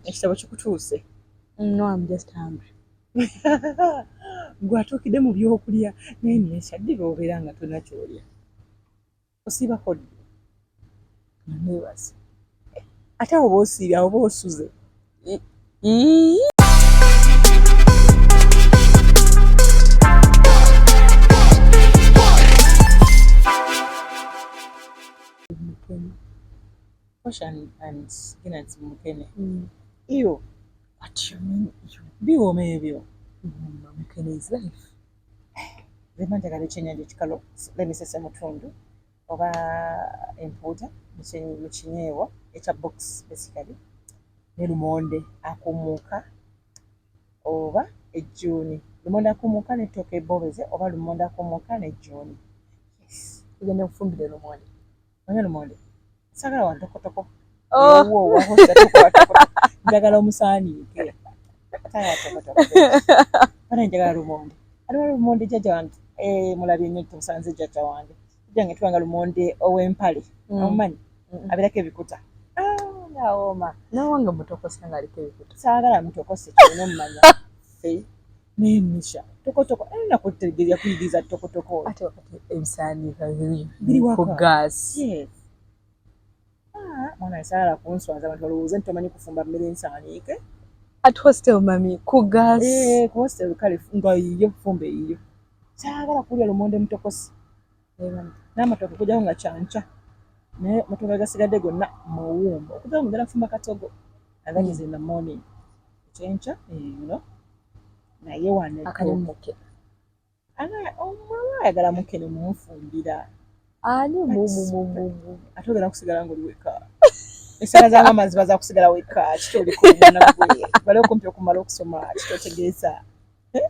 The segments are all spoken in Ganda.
ekitabo kikutuuse no am just hungry gwatuukidde mu byokulya naye nekyaddira obeera nga tolina kyolya osiibako ddi nebaza ate awo bosiibye awo bosuze Ocean and Guinness Mukene. Mm. Ew. What you mean ew? Biwoma ebyo. Mumma Mukene is life. Zema njagala ekyennyanja ekikalo lemisese mutundu oba empuuta mu kinyeewa ekya box basically ne lumonde akumuuka oba ejjuuni lumonde akumuuka n'ettooka ebbobeze oba lumonde akumuuka n'ejjuuni. Yes. Tugenda kufumbira lumonde. Manya lumonde. Sagala wa tokotoko. Oh. Wo wo wo tokotoko. Njagala omusani ke. Sagala tokotoko. Bana njagala lumonde. Aliwa lumonde jaja wange. Eh mulabye nyo tusanze jaja wange. Jange tuwanga lumonde owempale. Mm. Omanyi. Mm -mm. Abirake bikuta. Ah, na oma. Na wange mutoko sanga alike bikuta. Sagala mutoko se. Nomanya. Fe. Naye Nisha, tokotoko era eh, nakutegere yakuyigiriza tokotoko. Ate wakati ebisaaniika biri biri ku gaasi. Ah, mwana esaala kunswaza abantu balowooza nti tomanyi kufumba mmere ensaaniike. At hostel mami ku gaasi. Eh, ku hostel kale nga yiyo fumba eyiyo. Saagala kulya lumonde mutokosi. n'amatooke okujjako nga kyankya naye amatooke agasigadde gonna mawuumba okujjako mugenda kufumba katogo and that is in the morning ekyenkya eno eh, naye wano akalimuke ayagala muke ne mumufumbira ani ate ogenda kusigala ngaoli weka esaala za maama ziba zakusigala weka kiki oliko omwana gwe bali okumpi okumala okusoma kiki otegeeza eh?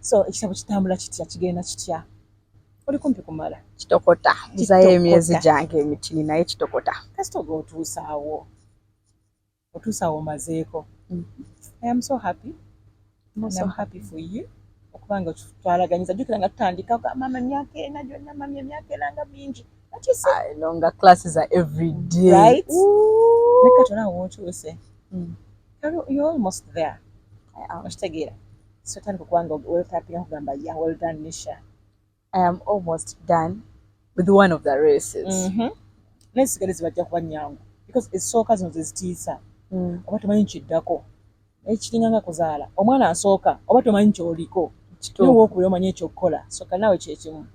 so ekitabo kitambula kitya kigenda kitya oli kumpi kumala kitokota nzayo emyezi gyange emitini naye kitokota kasita oga otuusaawo otuusaawo omazeeko mm. i am so happy I'm so happy for you okuba nga twalaganyiza jukira nga tutandika mama emyaka ena gyonna mami emyaka ena nga mingi nga classes are every day right nekatona wotuuse mm. You're almost there. Okitegeera. So tandika okuba nga wetapira kugamba ya well done Nisha. I am almost done with one of the races. Mm-hmm. Naye sigale zibajja kuba nyangu because esooka zino zezitiisa mm. oba tomanyi kiddako naye kiringa nga kuzaala omwana asooka oba tomanyi kyoliko niwe okubira omanya ekyokukola soka naawe kyekimu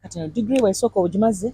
kati no digiri bwesooka ogimaze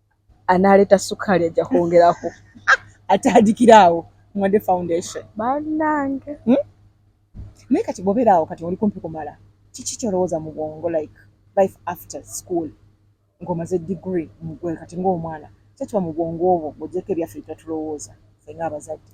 anaaleta ssukaali ajja kwongerako atandikira awo mwade foundation banange hmm? naye kati bwobeera awo kati oli kumpi kumala kiki kyolowooza mu bwongo like life after school ng'omaze degree mugwe kati ng'omwana kyekiba mu bwongo obwo ng'ogyeko ebyaffe byetwatulowooza fenga abazadde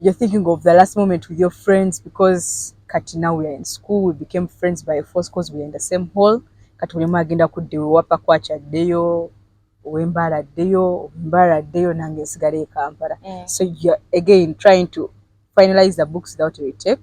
You're thinking of the last moment with your friends because kati now we are in school we became friends by force because we are in the same hall kati buli omu agenda kudda ewewapa kwacha addeyo owembaala addeyo owembaala addeyo nange nsigala e kampala mm. so you're again trying to finalize the books without a retake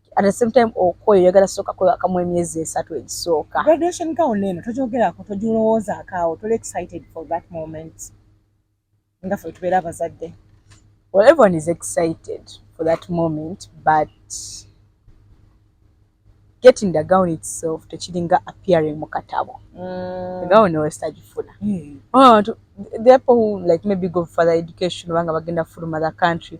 at the same time okoyo yagala soka kwe akamu emyezi esatu egisooka graduation gown neno tojogera ko tojulowooza akawo tole excited for that moment nga fe tubera abazadde well everyone is excited for that moment but getting the gown itself tekiringa appearing mu katabo mm. gown wesitagifuna mm. oh, the people who like maybe go for the education obanga bagenda fuluma the country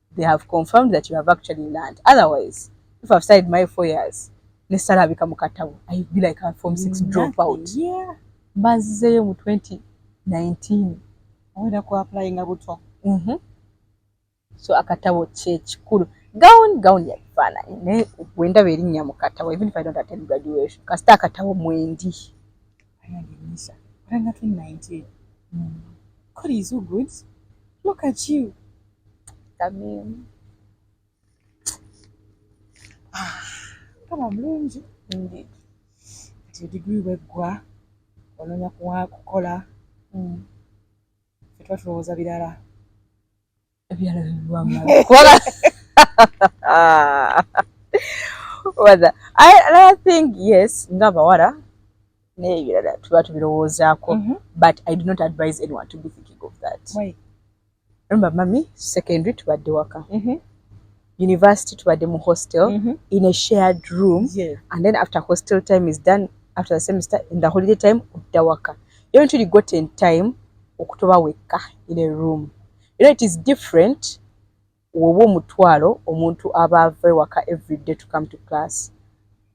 they have confirmed that you have actually learned otherwise if I've studied my four years ne salabika mu katabo I be like a form six drop out yeah mbazizeyo mu 2019 awera ku applying abutwa mhm mm so akatabo kye kikulu gown gown ya fana ne wenda beri nya mu katabo even if I don't attend graduation kasta akatabo mwendi ayandi nisha ranga 2019 mm. God is so good look at you Tamimu. Ah, kama mlungi ndi. Ti degree wegwa ononya kuwa kukola. Mm. Fetwa tulowoza bilala. Ebyala biwa mala. Kola. Wada. I, I think yes, ngaba wada. Naye bilala tuba tubilowoza ko. Mm -hmm. But I do not advise anyone to be thinking of that. Why? remember mami secondary tubadde waka mm -hmm. university tubadde mu hostel mm -hmm. in a shared room yeah. and then after hostel time is done after the semester in the holiday time odda waka yo ntuli got in time okutoba wekka in a room you know it is different woba omutwalo omuntu aba ava ewaka every day to come to class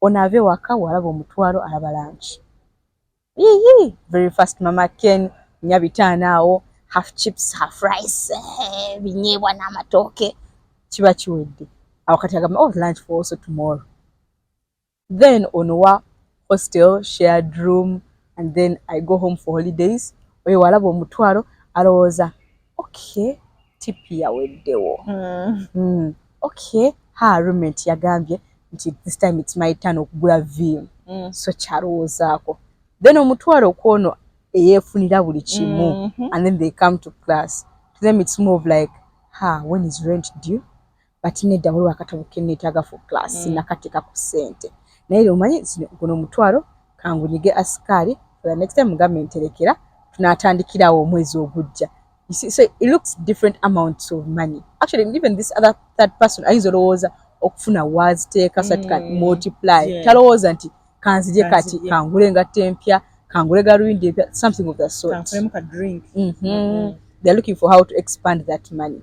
Ono ava ewaka walaba omutwalo alaba lunch. Yiyi very fast mama Ken nya bitaano awo half chips half rice eh, binyeebwa n'amatooke kiba kiwedde awo kati agamba oh lunch for also tomorrow then ono wa hostel shared room and then i go home for holidays oyo walaba omutwalo alowooza okay tipi yaweddewo hmm. hmm. okay ha rument yagambye nti this time its my turn okugula vim hmm. so kyalowoozaako then omutwalo kwono eyefunira buli kimu mm-hmm. and then they come to class to them its more of like ha when is rent due but nedda waliwo akatabo kenneetaaga for class mm. nakateka ku ssente naye lyo omanyi guno omutwalo kangunyige asikaali for the next time mugambe nterekera tunaatandikirawo omwezi ogujja so it looks different amounts of money actually even this other third person ayinza olowooza okufuna waaziteeka mm. satika multiply yeah. talowooza nti kanzije kati kangule ngatte empya kangule galuyindi empya something of the sort mm -hmm. Mm -hmm. they're looking for how to expand that money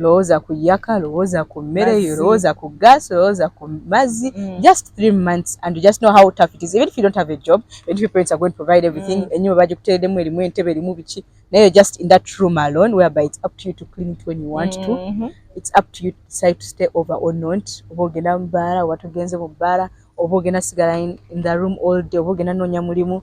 lowooza ku yaka lowooza ku mmere yo lowooza ku gas lowooza ku mazzi mm. just three months and you just know how tough it is even if you don't have a job and if your parents are going to provide everything mm. enyuma bagikuteredemu erimu entebe erimu biki naye you're just in that room alone whereby it's up to you to clean it when you want mm -hmm. to mm-hmm. it's up to you to decide to stay over or not oba ogenda mu bbaala oba togenze mu bbaala oba ogenda sigala in, in the room all day oba ogenda noonya mulimu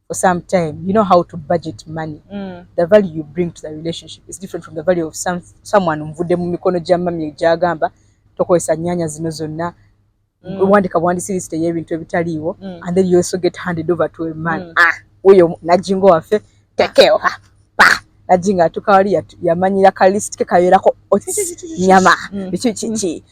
for some time you know how to budget money mm. the value you bring to the relationship is different from the value of some, someone nvude mu mikono gya mami egyagamba tokozesa nyanya zino zonna mm. wandika bwandisi lisite y'ebintu ebitaliiwo mm. and then you also get handed over to a man mm. ah, uyo najingo waffe tekeo ha pa najinga atukawali yamanyira ka list ke kayoerako nyama mm. ki, ki, ki. Mm.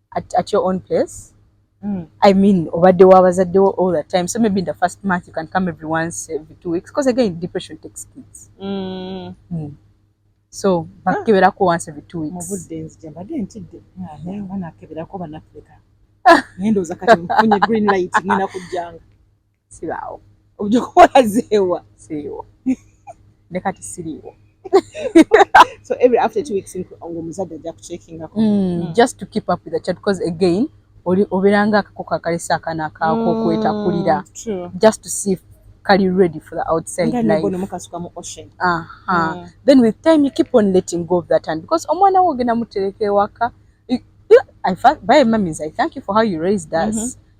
at, at your own place mm. i mean obadde wa bazadde wo all the time so maybe in the first month you can come every once every two weeks because again depression takes kids mm. Mm. so bakeberako once every two weeks mubudde nzija mbadde ntidde naye nga nakeberako banafrika naye ndowooza kati nfunye green light ngenda kujjanga sibaawo obujja okukola zeewa siriwo ne kati siriwo so every after two weeks ng'omuzadde ajja kuceekingako mm, mm. just to keep up with the child because again oli obeeranga akakoko akalese akaana akaako mm, okwetakulira just to see if kali ready for the outside life mukasuka mu ocean aha uh -huh. mm. then with time you keep on letting go of that and because omwana wo ogenda mutereka ewaka I, by mummies I thank you for how you raised us mm -hmm.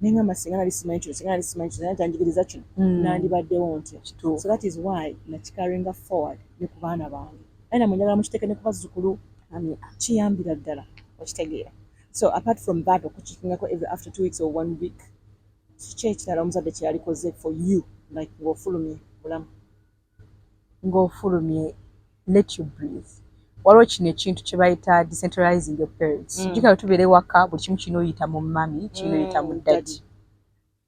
ne ngamba singa nali simanyi kino singa nali simanyi kino tanjigiriza kino mm. nandibaddewo ntya so that is why nakikaringa forward ne ku baana bange aye namwe njagala mukiteeke ne ku bazzukulu kiyambira ddala okitegeera so apart from that okukikingako every after two weeks or one week kiki ekirala omuzadde kyeyalikoze for you like ngaofulumye bulamu ng'ofulumye let you breathe waliwo kino ekintu kye bayita decentralizing your parents mm. jukira tubeera ewaka buli kimu kirina oyita mu mami kirina oyita mu mm, dadi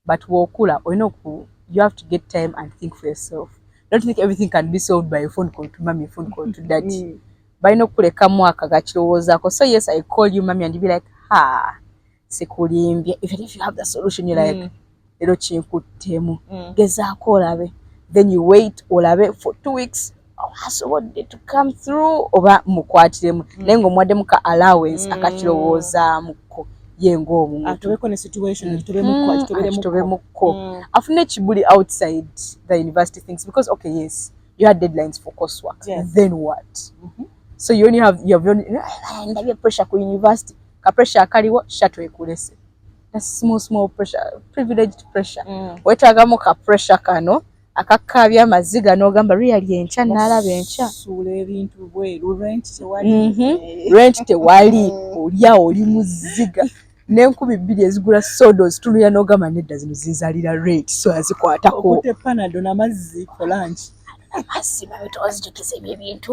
but wokula olina oku you have to get time and think for yourself don't think everything can be solved by a phone call to mami phone call to dadi mm. balina okukulekamu akagakirowoozako so yes i call you mami and be like ha sikulimbye even if you have the solution you like mm. lero kinkuttemu mm. gezaako olabe then you wait olabe for two weeks asobodde to come through oba mukwatiremu mm. naye ngaomuwaddemu ka allowance mm. akakirowoozaamuko ye ngaomuntubemukko mm. afune ekibuli outside the university things because okay yes you had deadlines for coursework yes. then what mm -hmm. so you only have, you have only, ah, pressure ku university ka pressure akaliwo shatu ekulese small small pressure privileged pressure mm. wetagamu ka pressure kano akakabya amaziga nogamba really enkya nalaba enkya suula ebintu bweru rent tewali mm -hmm. rent tewali olya oli muziga n'enkumi bbiri ezigula sodo zitulira n'ogamba nedda zino zinzalira rate so azikwatako panado namazzi kolangi amazzi babitozijukiza ebyo ebintu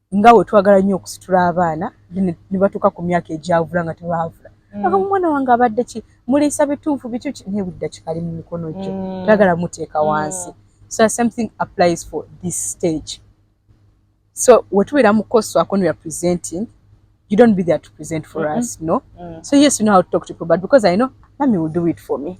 nga we twagala nnyo okusitula abaana ne batuuka ku myaka egyavula nga tebaavula mm. aga omwana wange abadde ki muliisa bituufu bikyuki naye buli dakika ali mu mikono gyo mm. tayagala muteeka mm. wansi so something applies for this stage so we tubeera mu koso akoni ya presenting you don't be there to present for mm -hmm. us no mm. so yes you know how to talk to people but because i know mami will do it for me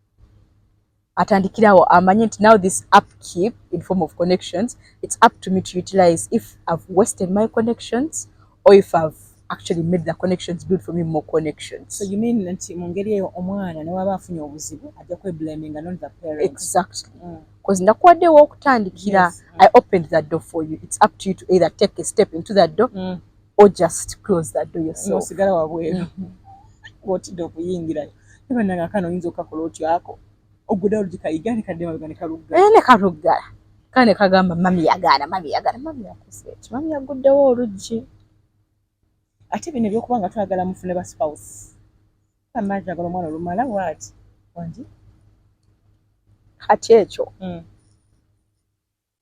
atandikirawo amanye nti now this up keep in form of connections it's up to me to utilize if i've wasted my connections or if i've actually made the connections build for me more connections so you mean nti mu ngeri eyo omwana newaba afunye obuzibu ajja kweblaminga not the parent exactly mm. bcause nakuwaddewo okutandikira yes. mm. i opened that door for you it's up to you to either take a step into that door mm. or just close that door yourself osigala wabweru mm-hmm. ng'otidde okuyingirayo ne bannange akana oyinza okukakola otyo ako oggudawo lugikayiga ne kadde mabega ne kalugga eh, ne kaluggala kale ne kagamba mami yagaana mami yagaana mami yakusa eki mami yagguddewo oluggi ate bino ebyokuba nga twagala mufune ba spouse amazi agala omwana olumala waati wangi kati ekyo mm.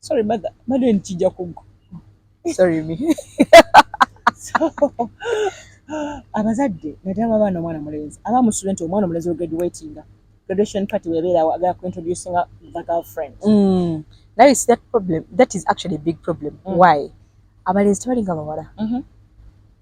sorry mother mother nikija kugwa sorry me so abazadde naddala babaana omwana mulenzi aba mu student omwana omulenzi we graduatinga graduation party webeerawo agala ku introducing the girlfriend mm. now you see that problem that is actually a big problem mm. why abalenzi tebalinga bawala mm -hmm.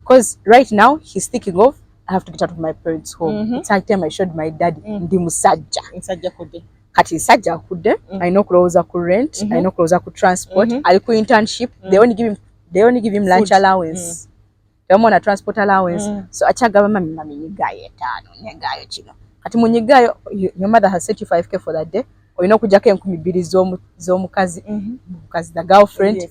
Because right now he's thinking of I have to get out of my parents' home. Mm -hmm. It's high time I showed my daddy mm -hmm. ndi musajja. Musajja kude. Kati nsajja kude. Mm -hmm. I know kuloza ku rent, mm -hmm. I mm-hmm. know kuloza ku transport, mm -hmm. ali ku internship. Mm -hmm. They only give him they only give him Food. lunch allowance. Mm -hmm. They want a transport allowance. Mm -hmm. So achagaba mami mami nyigayo etano, nyigayo kino. Kati munyigayo your mother has set you 5k for that day. Oyina kujako enkumi bili zomu zomu kazi. Mm -hmm. Kazi the girlfriend. Yes.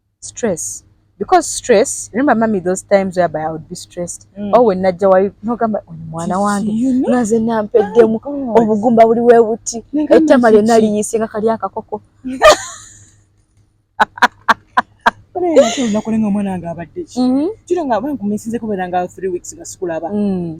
stress because stress remember mummy those times where i would be stressed mm. oh when najja wali nogamba oyo mwana wange naze nampeddemu oh, obugumba buli webuti ettama lyonna liyise nga kali akakoko nakolenga omwana wange abadde ki mm-hmm. kiro nga bankumisinze kubeera nga three weeks nga sikulaba mm.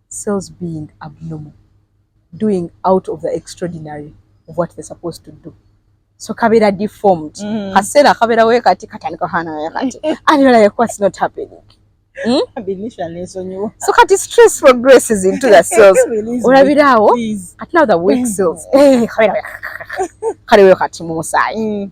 cells being abnormal doing out of the extraordinary of what they're supposed to do so kabera deformed mm. kasera kabera we kati katandika hana we kati and you're like what's not happening Hmm? so kati stress progresses into the cells olabiraawo ati now the weak cells eh, kale weyo kati mu musaayi hmm.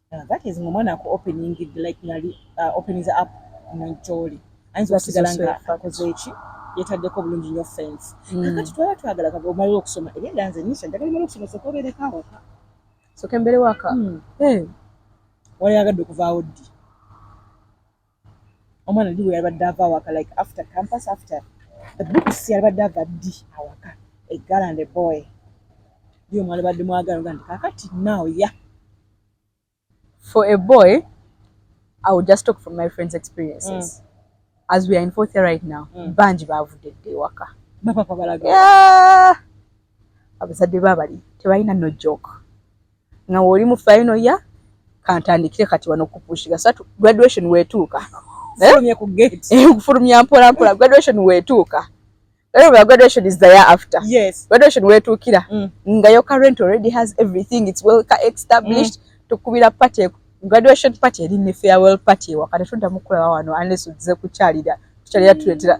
Yeah, that is ngomwana ku opening it like ngali uh, opening the app nanjoli ayinza okusigala nga akoze eki yetaddeko bulungi nyo fence mm. kakati twala twagala kaga omalira okusoma ebyenda nze nisha njagala omala okusoma soka obeereko awaka soka embere waka mm. hey. Eh. wali yagadde okuvaawo ddi Omwana ddi weyabadde ava awaka like after campus after the books yabadde ava ddi awaka a girl and a boy ddi omwalibadde mwagala ogandi kakati now ya for a boy i will just talk from my friends experiences mm. as we are in fourth year right now mm. bangi bavudde dde ewaka bapapa balaga yeah. abazadde babali tebalina no joke nga oli mu final ya kantandikire kati wano kupushiga sa graduation wetuuka eh? kufulumya eh, mpola mpola graduation wetuuka Remember, graduation is the year after. Yes. Graduation where to kira. Mm. Nga your current already has everything. It's well established. Mm. To kubira party. Graduation party. Eri ni farewell party. Wakata shunda mkula wawano. Unless uze kucharida. Kucharida mm. tuletira.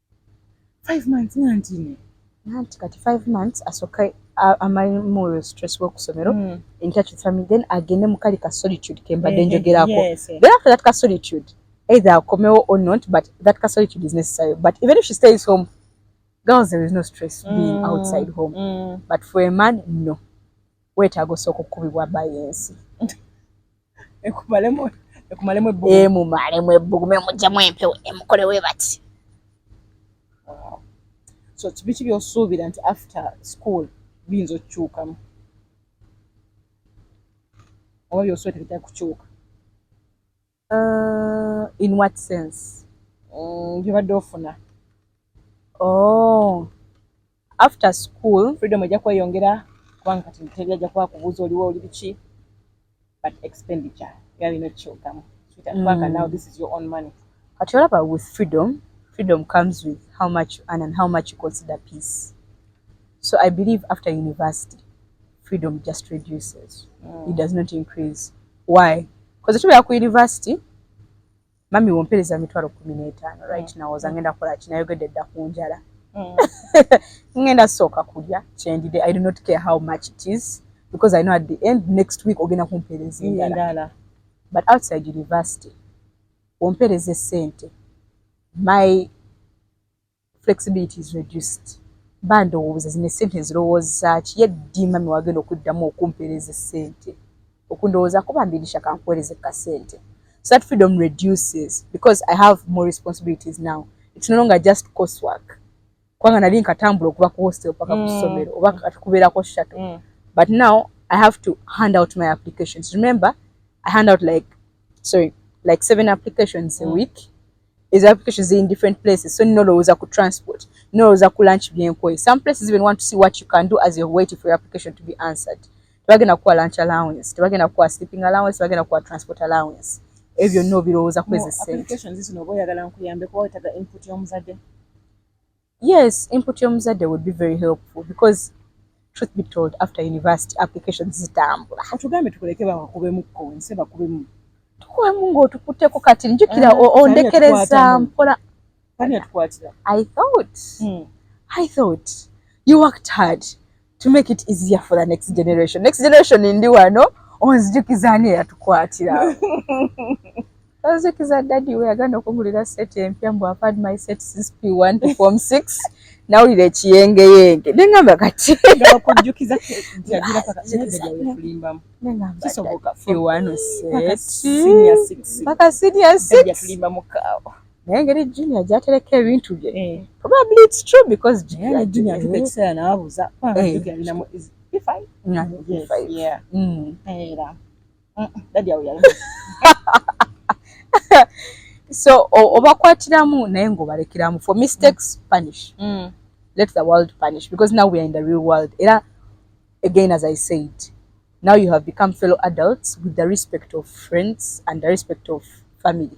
five months nanti ne nanti kati five months asoke amali mu stress wo kusomero mm. in touch with family then agende mu kali ka solitude ke mbadde eh, eh, njogerako yes, yes. then after that ka solitude either akomewo or not but that ka solitude is necessary but even if she stays home girls there is no stress mm. being outside home mm. but for a man no wetaaga osooka okukubibwa bayensi ekumalemu ekumalemu ebbugumu emumalemu ebbugumu emujjemu empewo emukole we bati so kibiki byosuubira nti after school biyinza okukyukamu oba byosuubira tebitali kukyuka uh, in what sense mm, byobadde ofuna oh After school freedom ejja kweyongera kubanga kati ntebya ajja kuba kubuuza oliwo oli biki but expenditure yalina ekyogamu sweetheart mm. now this is your own money kati olaba with freedom freedom comes with how much you earn and how much you consider peace so i believe after university freedom just reduces mm. it does not increase why because tubeera ku university mami wompereza mitwalo kumi n'etaano right mm. nawoza mm. ngenda kukola ki nayogedde dda ku njala mm. ngenda sooka kulya kyendide i do not care how much it is because i know at the end next week ogenda kumpereza endala but outside university wompereza esente my Flexibility is reduced mba ndowooza zino essente nzirowooza ki ye ddi mami wagenda okuddamu okumpeereza essente okundowoozaako bambi nisha kankuweereze kasente so that freedom reduces because I have more responsibilities now it's no longer just course work kubanga nali nkatambula okuva ku hostel paka ku mm. ssomero oba kati kubeerako shato mm. but now I have to hand out my applications remember I hand out like sorry like seven applications a mm. week Ezo application ziri in different places so nolowooza ku transport nolowooza ku lunch byenkoye some places even want to see what you can do as you're waiting for your application to be answered tebagenda kukuwa lunch allowance tebagenda kukuwa sleeping allowance tebagenda kukuwa transport allowance ebyo byonna obirowooza kwezi sente applications zino oba oyagala nkuyambe kuba wetaga input y'omuzadde Yes, input y'omuzadde would be very helpful because truth be told after university applications zitambula. Otugambe tukuleke bakubemu konse bakubemu. Tukubemu ng'otukutteko kati njukira eh, ondekereza mpola. Ani atukwatira? I thought. Hmm. I thought. You worked hard. to make it easier for the next generation next generation ndi wano onzijukiza ani eyatukwatira onzijukiza daddy we yagenda okugulira set empya mbu i've had my set since p1 to form 6 nawulira ekiyengeyenge ne ngamba kati okujjukiza paka senior six naye engeri junior gyatereka ebintu bye eh. probably it's true because junior junior atuka eh. ekiseera n'abuuza alinamu eh. mm. era mm, dadi awo yali so obakwatiramu naye ng'obalekeramu for mistakes mm. punish let the world punish because now we are in the real world era again as i said now you have become fellow adults with the respect of friends and the respect of family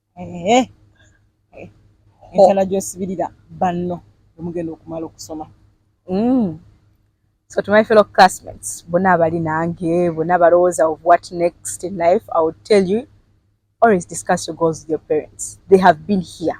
Eh, eh. entala gyosibirira banno emugenda okumala okusoma mm. so to my fellow classmates bona abali nange bona balowooza of what next in life i would tell you always discuss your goals with your parents they have been here